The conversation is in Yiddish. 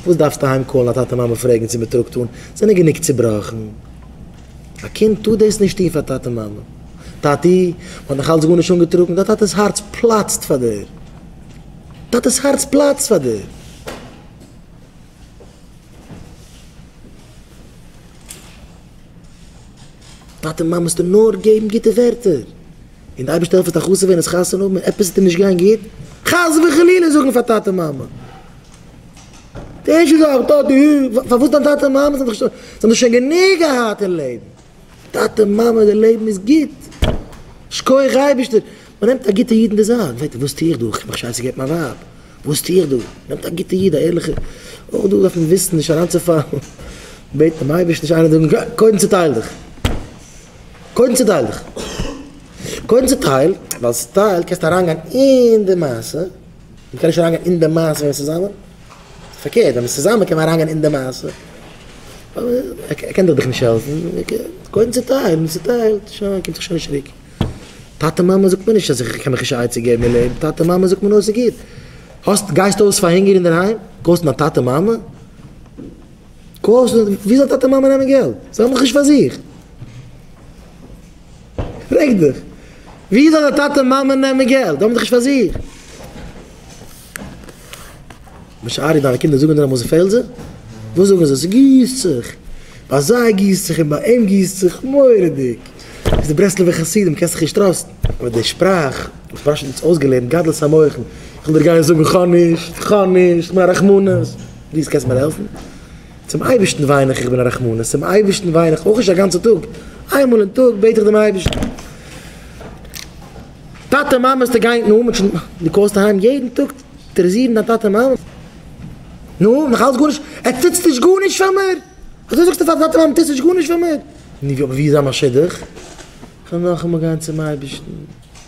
וואס דארפסטו אהיים קאלן א טאטע מאמע פרעגן צו מען טראגט אן, זענען גענוג צובראכן. א קינד טאר דאס נישט טון פאר טאטע מאמע. טאטי, מען האט נאך אלץ גארנישט אנגעטראגן, דיין טאטע'ס הארץ פלאצט פאר דיר. טאטע'ס הארץ פלאצט פאר דיר. טאטע מאמע מוזטו נאר געבן גוטע ווערטער. און די אייבערשטער העלפט עס א חתונה ווערן איז חתונה האבן און עפעס טוט נישט גיין גוט, חס וחלילה זאגן פאר טאטע מאמע. די ערשטע זאך וואס טוט די האר, פארוואס דיין טאטע און מאמע זענען זיך זיי האבן שוין גענוג געהאט אין לעבן, טאטע מאמע די לעבן איז גוט, שקויעך אייבערשטער, מען נעמט א גוטע איד אין די זייט, מען פרעגט אים וואס טו איך דא, איך האב מיך שוין צעגעבט מיין ווייב, וואס טו איך דא, מען נעמט א גוטע איד א ערליכע, אויך דא דארף מען וויסן נישט אריינצופאלן, בעט דעם אייבערשטן נישט איינער זאגן גיי, קודם צוטייל דיך, קודם צוטייל דיך, קודם צוטייל, ווייל צוטייל קענסטו אריינגיין אין די מעשה. מען קען נישט אריינגיין אין די מעשה ווען מען איז צוזאמען, פארקערט ווען מען איז צוזאמען קען מען אריינגיין אין די מעשה, ער קען דאך דיך נישט העלפן, קודם צוטייל, מען צוטיילט, שוין קומט זיך שוין נישט צוריק, טאטע מאמע זאגט מען נישט אז איך קען מיך נישט א עצה געבן אין לעבן, טאטע מאמע זאגט מען נאר ס'איז גוט, האסט גייסט אויס פאר הונגער אינדערהיים, קאלסט מיין טאטע מאמע, קאלסט, ווי זאל טאטע מאמע נעמען געלט, זיי האבן דאך נישט פאר זיך. פרעג דיך, ווי זאל די טאטע און מאמע נעמען געלט? זיי האבן דאך נישט פאר זיך. משארי, דיינע קינדער זאגן דיר אמאל ס'איז פעלזער? וואס זאגן זיי? ס'גיסט זיך. ביי זיי גיסט זיך און ביי אים גיסט זיך מורא'דיג. ביסט די ברסלב'ע חסידים, קענסט זיך נישט טראסטן. אבער די שפראך, וואס פארשער האט אונז אויסגעלערנט, גדלות המוחין, איך וועל דיר גיין זאגן כ'האב נישט, כ'האב נישט, כ'בין א רחמנות. פליז קענסט מיר העלפן? צום אייבערשטן וויין איך, איך בין א רחמנות, צום אייבערשטן וויין איך אויך נישט א גאנצע טאג, איין מאל אין טאג בעט איך דעם אייבערשטן. טאטע מאמע האסטו געהיינט נו מ'האט שוין, דו קאלסט אהיים יעדן טאג טערעזירן דיין טאטע מאמע, נו נאך אלץ גארנישט, עטס טוטס נישט גארנישט פאר מיר, אזוי זאגסטו פאר די טאטע מאמע טוטס נישט גארנישט פאר מיר, נו ווי איז א משודח, כ'וועל נאכאמאל גיין צום אייבערשטן.